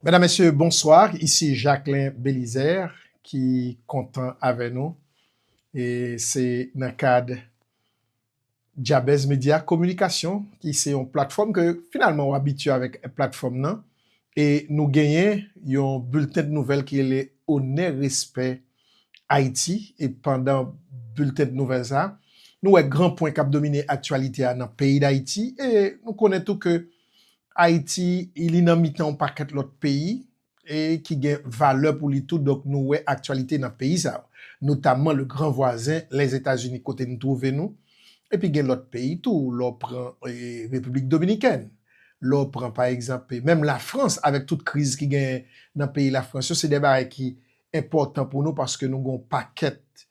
Medam mesye bonswa isi Jacquelin Belizaire ki kontan avè nou e se nan kad Jabez Media Kominikasyon ki se yon platfòm ke finalman ou abitye avèk platfòm nan e nou genyen yon bilten de nouvèl ki rele Onè Respè Ayiti e pandan bilten de nouvèl sa nou wè gran pwen kap domine aktyalite a nan peyi Dayiti e nou konnen tou ke Ayiti, li nan mitan yon pakèt lòt peyi e ki gen valè pou li tou, donk nou wè aktyalite nan peyi sa yo, notamman le gran vwazen Lèzetazini kote nou twouve nou, epi gen lòt peyi tou, lè w pran Repiblik Dominikèn, lè w pran pa egzanp menm Lafrans avèk tout kriz ki genyen nan peyi Lafrans yo, se de bagay ki enpòtan pou nou paske nou gen yon pakèt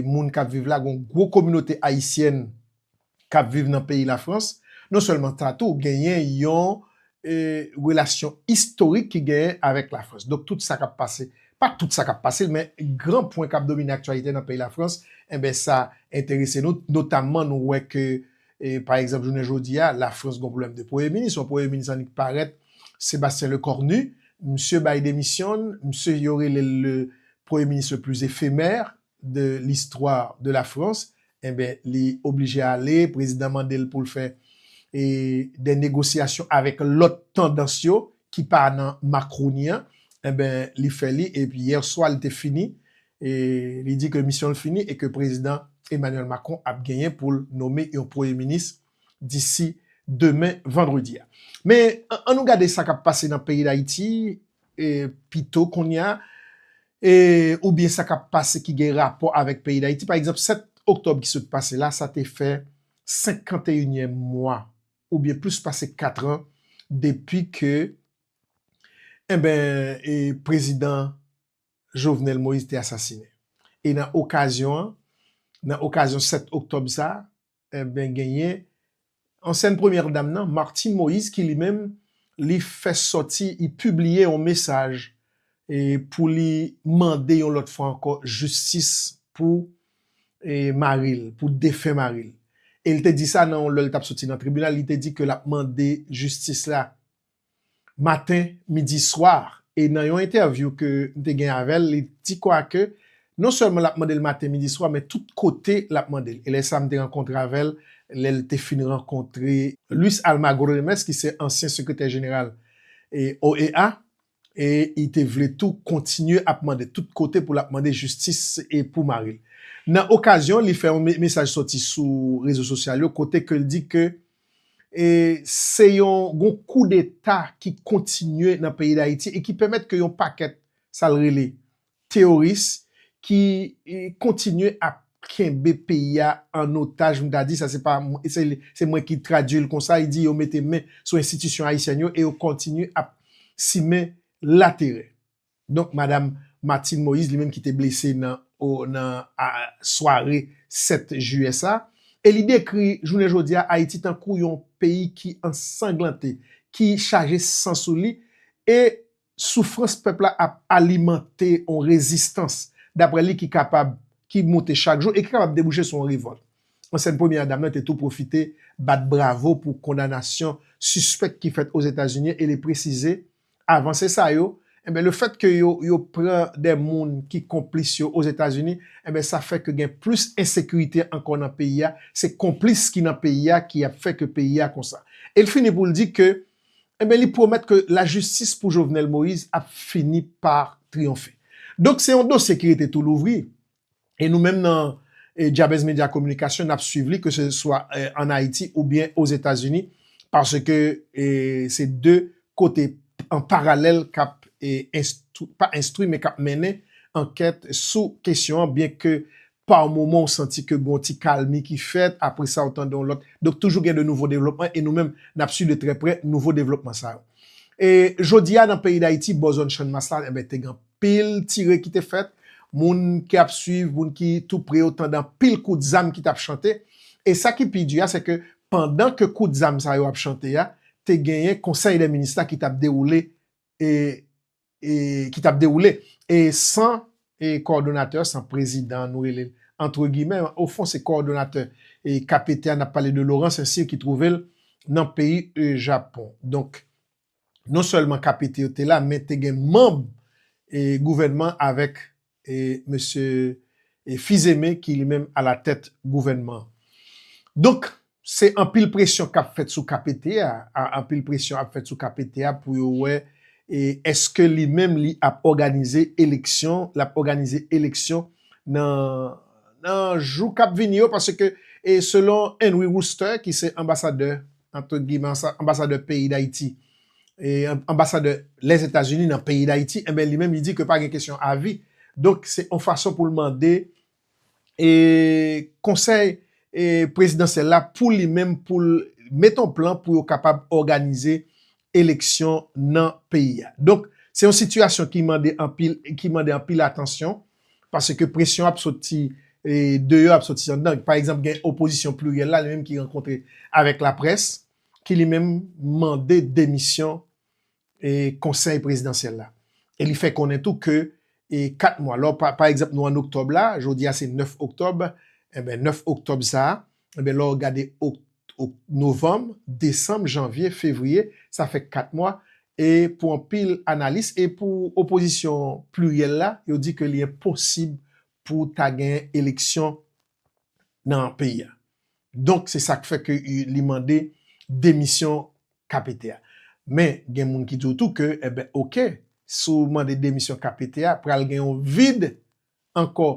moun k ap viv la, gen yon gwo kominote ayisyèn k ap viv nan peyi Lafrans, non sèlman sa tou genyen yon relasyon istorik ki genyen avèk Lafrans. Donk tout sa k ap pase, pa tout sa k ap pase men gran pwen k ap domine aktyalite nan peyi Lafrans enben sa enterese nou notamman nou wè ke pa egzanp jounen jodi a Lafrans gon pwoblèm de premye minis, yon premye minis annik parèt Sébastien Lecornu, misye bay demisyon l, misye yo rele l le premye minis le plus éphémère de l'histoire de la France enben li oblije ale prezidan mandel poul fè e dè negosyasyon avèk lòt tandans yo ki pa nan Macroni an enben li fè li e yèswa li te fini e li di ke misyonl fini e ke prezidan Emmanuel Macron ap genyen poul nome yon premye minis disi demen vandredi a. Men, an nou gade sa k ap pase nan peyi Dayiti pito kounye a, oubyen sa k ap pase ki gen rapò avèk peyi Dayiti. Pa egzanp, 7 oktòb ki sot pase la, sa te fè senkanteyinyèm mwa oubyen plis pase katran depi ke enben prezidan Jovenel Moïse te asasinen. E nan okazyon an, nan okazyon 7 oktòb sa, Enben genyen ansyen premyè dam nan Martine Moïse ki li menm li fè sòti li pibliye yon mesaj pou li mande yon lòt fwa ankò jistis pou mari l, pou defen mari l. E li te di sa nan lè li t ap sòti nan tribinal li te di ke l ap mande jistis la maten, midi, swa e nan yon entèvyou ke m te gen avè l, li di kwa ke non sèlman l ap mande l maten, midi, swa men tout kote l ap mande l e lè sa m te rankontre avè l lè l te fin rankontre Luis Almagro Remes ki se ansyen sekretè jeneral OEA e li te vle tou kontinye ap mande tout kote pou l ap mande jistis pou mari l. Nan okazyon li fè yon mesaj sòti sou rezo sosyal yo kote ke l di ke e se yon gon kou deta ki kontinye nan peyi dayiti e ki pèmèt ke yon pakèt sa l rele teoris ki kontinye ap kenbe peyi a an otaj m ta di sa se pa se mwen ki tradui l konsa li di yo mete men sou enstitisyon ayisyèn yo e yo kontinye ap simen laterè. Donk madam Martine Moïse li menm ki te blese nan nan sware 7 jiyè sa e li dekri jounen jodi a Ayiti tankou yon peyi ki ansanglante, ki chaje san sou li e soufrans pèp la ap alimante yon rezistans daprè li ki kapab ki moute chak jou e ki kapab debouche sou yon revòlt. Ansyen premyè dam nan te tou pwofite bat bravo pou kondanasyon sispèk ki fèt Ozetazini e li presize avanse sa yo, enben le fèt ke yo yo pran dè moun ki konplis yo Ozetazini, enben sa fè ke gen plis ensekirite ankò nan peyi a, se konplis ki nan peyi a ki ap fè ke peyi a konsa. E l fini pou l di ke, enben li pwomèt ke lajistis pou Jovenel Moïse ap fini pa triyonfe. Donk se yon dosye ki rete tou louvri, e nou menm nan Jabez Media Communication nap swiv li ke se swa an Ayiti ou byen o Zetazini paske se 2 kote an paralèl kap pa enstwi men kap mennen ankèt sou kesyon an byen ke pa moman ou santi ke gon ti kalmi ki fèt apre sa ou tande yon lòt donk toujou gen de nouvo devlopman e nou menm nap swiv de trè prè nouvo devlopman sa yo. Jodi a nan peyi Dayiti bò zòn Channmas la te gen anpil. Anpil tire ki te fèt, moun ki ap swiv, moun ki tou pre yo tande anpil kout zam ki t ap chante. E sa ki pi di a, se ke pandan ke kout zam sa yo ap chante a, te genyen konsèy dè minis la ki t ap dewoule e ki t ap dewoule. E san kòdonatè, san prezidan nou rele l antre gimè, o fon se kòdonatè KPT a, n ap pale de Laurent Saint-Cyr ki twouve l nan peyi Japon. Donk, non sèlman KPT yo te la men te gen manb gouvènman avèk mesye Fils-Aimé ki li menm alatèt gouvènman an. Donk, se anpil presyon k ap fèt sou KPT a, anpil presyon ap fèt sou KPT a pou yo wè èske li menm li ap òganize eleksyon, l ap òganize eleksyon nan jou k ap vini yo paske selon Henry Wooster ki se anbasadè antre gimè, anbasadè peyi Dayiti, anbasadè Lèzetazini nan peyi Dayiti, enben li menm li di ke pa gen kesyon avi, donk se yon fason pou l mande konsèy prezidansyèl la pou li menm pou l mete yon plan pou yo kapab òganize eleksyon nan peyi a. Donk, se yon sitiyasyon ki mande anpil, ki mande anpil atansyon, paske presyon ap soti deyò, ap soti anndan. Pa egzanp, gen opozisyon pliryèl la, li menm ki rankontre avèk laprès, ki li menm mande demisyon konsèy prezidansyèl la. E li fè konnen tou ke 4 mwa, lò pa egzanp nou an oktòb la, jodi a se 9 oktòb, enben 9 oktòb sa a, Enben lè w gade ok ok novanm, desanm, janvye, fevriye, sa fè 4 mwa e pou anpil analis e pou opozisyon pliryèl la, yo di ke li enposib pou ta gen eleksyon nan peyi a. Donk se sa k fè ke li mande demisyon KPT a. Men gen moun ki di w tou ke enben ok, si w mande demisyon KPT a, pral gen yon vid ankò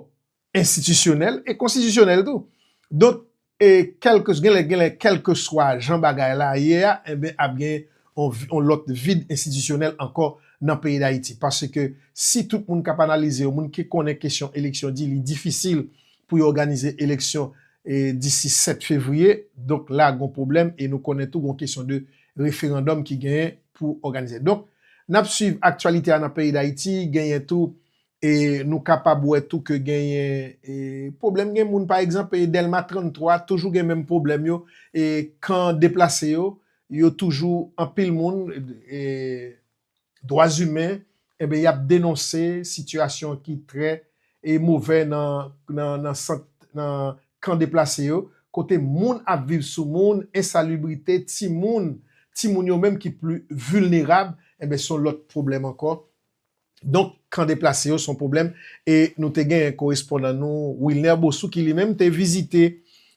enstitisyonèl e konstitisyonèl tou. Donk, e kèlke, gen lè, gen lè kèlke swa jan bagay la ye a, enben ap gen yon, yon lòt vid enstitisyonèl ankò nan peyi Dayiti. Paske si tout moun k ap analize, yon moun ki konnen kesyon eleksyon di li difisil pou yo òganize eleksyon e disi 7 fevriye, donk la gon pwoblèm e nou konnen tou gon kesyon de referandòm ki genyen pou òganize. Donk, n ap swiv aktyalite a nan peyi Dayiti, genyen tou E nou kapab wè tou ke genyen pwoblèm, gen moun pa egzanp Dèlma 33 toujou gen menm pwoblèm yo, kan deplase yo, yo toujou anpil moun dwa zimen y ap denonse sitiyasyon ki trè movè nan kan deplase yo, kote moun ap viv sou moun, ensalibrite, timoun, timoun yo menm ki pli vilnerab, se yon lòt pwoblèm ankò. Donk, kan deplase yo se yon pwoblèm e nou te gen korespondan nou Wilner Bossou ki li menm te vizite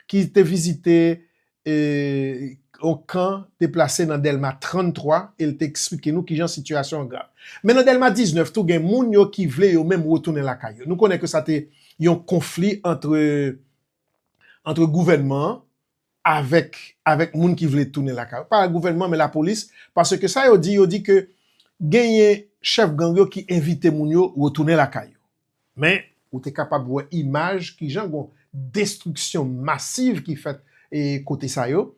ki te vizite yon kan deplase nan Dèlma 33 e l te eksplike nou kijan sitiyasyon an grav. Men nan Dèlma 19 tou gen moun yo ki vle yo menm retounen lakay yo. Nou konnen ke sa te yon konfli antre antre gouvènman an avèk avèk moun ki vle tounen lakay yo, pa gouvènman men lapolis, paske sa yo di, yo di ke genyen chèf gang yo ki envite moun yo retounen lakay yo. Men, ou te kapab wè imaj kijan gon destriksyon masiv ki fèt e kote sa yo,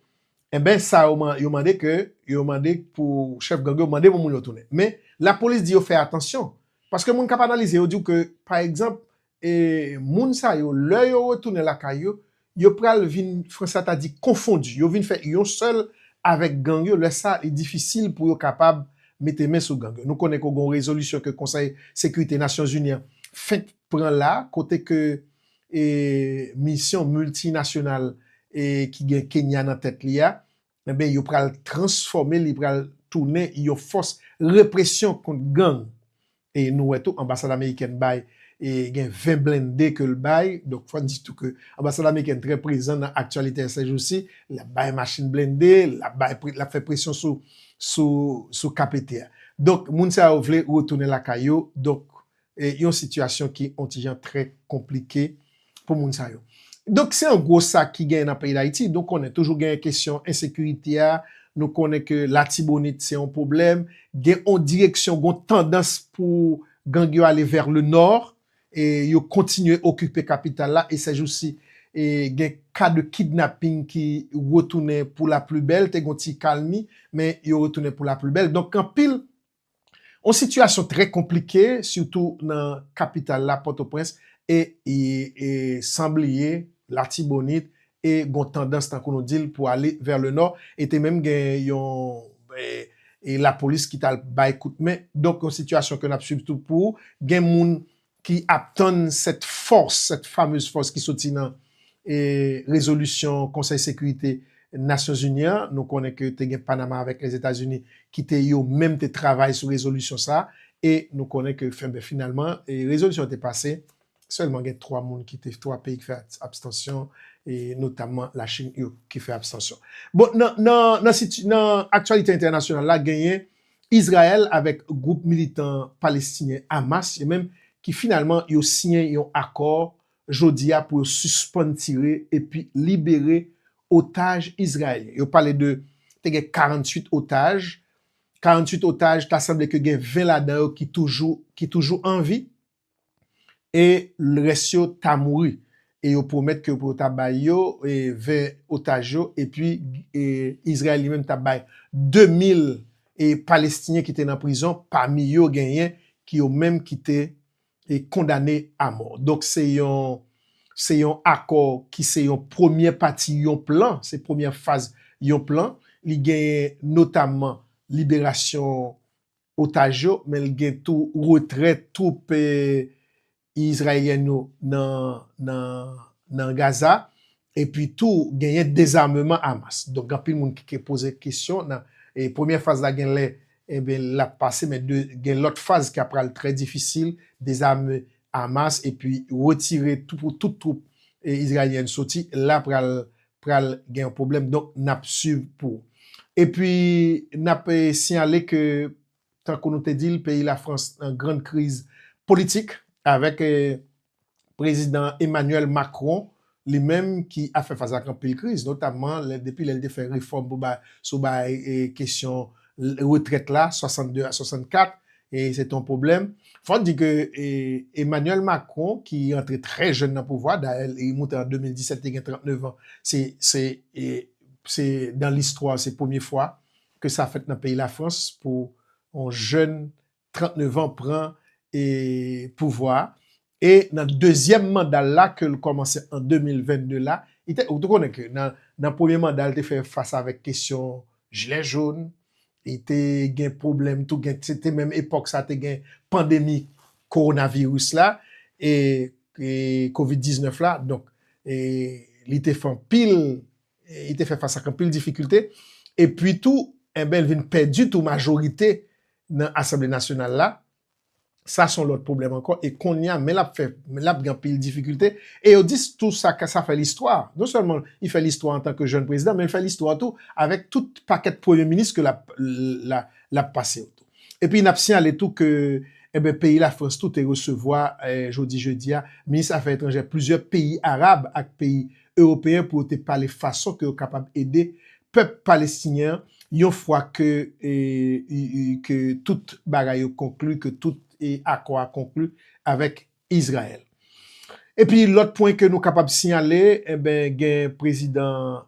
enben sa yo man yo mande ke yo mande pou chèf gang yo mande pou moun yo tounen. Men, lapolis di yo fè atansyon, paske moun k ap analize yo di w ke pa egzanp, E moun sa yo, lè yo retounen lakay yo, yo pral vin, Franca ta di, confondu. Yo vin fè yon sèl avèk gang yo. Lè sa, li difisil pou yo kapab mete men sou gang yo. Nou konnen ke gen yon rezolisyon ke Konsèy Sekirite Nasyon Zini an fenk pran la, kote ke misyon miltinasyonal ki gen Kenya nan tèt li a, Enben, yo pral transfòme, li pral tounen yon fòs represyon kont gang. E nou wè tou anbasad amerikèn bay e gen 20 blende ke l bay, donk fò n di tou ke anbasad amerikèn trè prezan nan aktyalite sèjousi, l ap bay machin blende, l ap bay, l ap fè presyon sou, sou, sou KPT a. Donk moun sa yo vle retounen lakay yo, donk e yon sitiyasyon ki on ti jan trè konplike pou moun sa yo. Donk se an gwo sa ki genyen nan peyi Dayiti. Nou konnen toujou genyen kesyon ensekirite a, nou konnen ke Latibonit se on pwoblèm, gen on direksyon, gon tandans pou gang yo ale vè le nò, e yo kontinye okipe kapital la, e sèjousi e gen ka de kidnaping ki retounen pou la pli bèl, te gon ti kalmi, men yo retounen pou la pli bèl. Donk anpil Yon sitiyasyon trè konplike sitou nan kapital la Pòtoprens e san bliye Latibonit e gon tandans tankou nou dil pou ale vè le nò e te menm gen yon lapolis ki tal bay kout men donk yon sitiyasyon ke nap swiv tou pou gen moun ki ap tann sèt fòs, sèt famez fòs ki soti nan rezolisyon konsèy sekirite Nasyonzini an, nou konnen ke te gen Panama avèk Lèzetazini ki te yo menm te travay sou rezolisyon sa e nou konnen ke fenben finalman rezolisyon an te pase, sèlman gen 3 moun ki te, 3 peyi ki fè abstansyon e notamman la Chin yo ki fè abstansyon. Bon nan nan nan siti nan aktyalite entènasyonal la genyen Izrayèl avèk gwoup militan palestinyen Hamas yo menm ki finalman yo siyen yon akò jodi a pou yo sispann tire epi libere otaj izrayelyen. Yo pale de te gen 48 otaj, 48 otaj ta sanble ke gen 20 ladan yo ki toujou ki toujou anvi. e lrès yo ta mouri, e yo pwomèt ke pou yo ta bay yo 20 otaj yo, epi Izrayèl li menm ta bay 2000 Palestinyen ki te nan prizon, pami yo genyen ki yo menm ki te kondane amò. Donk se yon se yon akò ki se yon premyè pati yon plan, se premyè faz yon plan, li genyen notamman liberasyon otaj yo, men li gen tou retrè twoup izrayelyen yo nan Gaza, epi tou genyen dezameman Hamas. Donk gen anpil moun ki ke poze kesyon nan premyè faz la gen lè enben l ap pase men gen lòt faz ki ap pral trè difisil, dezame Hamas epi retire tou pou tout twoup izrayelyen soti la pral pral gen yon pwoblèm donk nap swiv pou epi nap siyale ke tankou nou te dil peyi la frans nan grand kriz politik avèk prezidan Emmanuel Macron li menm ki ap fè fas ak anpil kriz notamman depi lèl te fè refòm sou bay kesyon retrèt la 62 a 64 E se te yon pwoblèm. Fò di ke Emmanuel Macron ki antre trè jèn nan pouvwa, dayè li moute an 2017 li te gen 39 an, se nan listwa se premye fwa ke sa fèt nan peyi Lafrans pou yon jèn 39 an pran pouvwa E nan dezyèm manda l la ke l kòmanse an 2022 la, li te, ou te konnen ke nan premye manda l te fè fas avèk kesyon jilè jon, li te gen pwoblèm tou, gen, se te menm epòk sa te gen pandemi kowonaviris la, e covid 19 la, donk e li te fè anpil, li te fè fas ak anpil difikilte, epi tou, enben l vin pèdi tou majorite nan asanble nasyonal la, sa son lòt pwoblèm ankò e konnya men lap fè men lap gen anpil difikilte e yo dis tou sa ka sa fè listwa non sèlman li fè listwa antan ke jèn prezidan men li fè listwa tou avèk tout pakèt premye minis ke lap lap pase yo tou epi nap siyale tou ke enben peyi la frans tou te resevwa jodi jedi a minis afè etranjè plizyè peyi arab ak peyi Ewopeyen pou yo te pale fason ke yo kapab ede pèp Palestinyen an yon fwa ke ke tout bagay yo konkli, ke tout akò a konkli avèk Izrayèl. Epi lòt pwen ke nou kapab siyale, enben gen Prezidan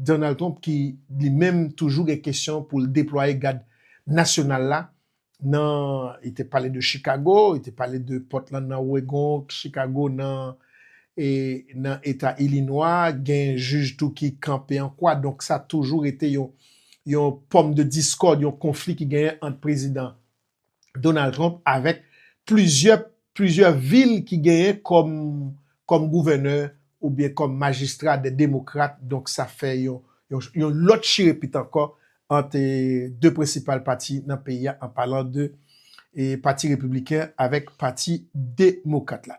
Donald Trump ki li menm toujou gen kesyon pou l deplwaye Gad Nasyonal la nan li te pale de Chicago, li te pale de Portland nan Oregon, Chicago nan nan eta Ilinwa, gen jij tou ki kanpe an kwa, donk sa toujou rete yon yon pòm de diskòd, yon konfli ki genyen ant prezidan Donald Trump avèk plizyè Plizyè vil ki genyen kòm kòm gouvènè oubyen kòm majistra de demokrat donk sa fè yon yon lòt chire pit ankò ant 2 prensipal pati nan peyi a an palan de pati repibliken avèk pati demokrat la.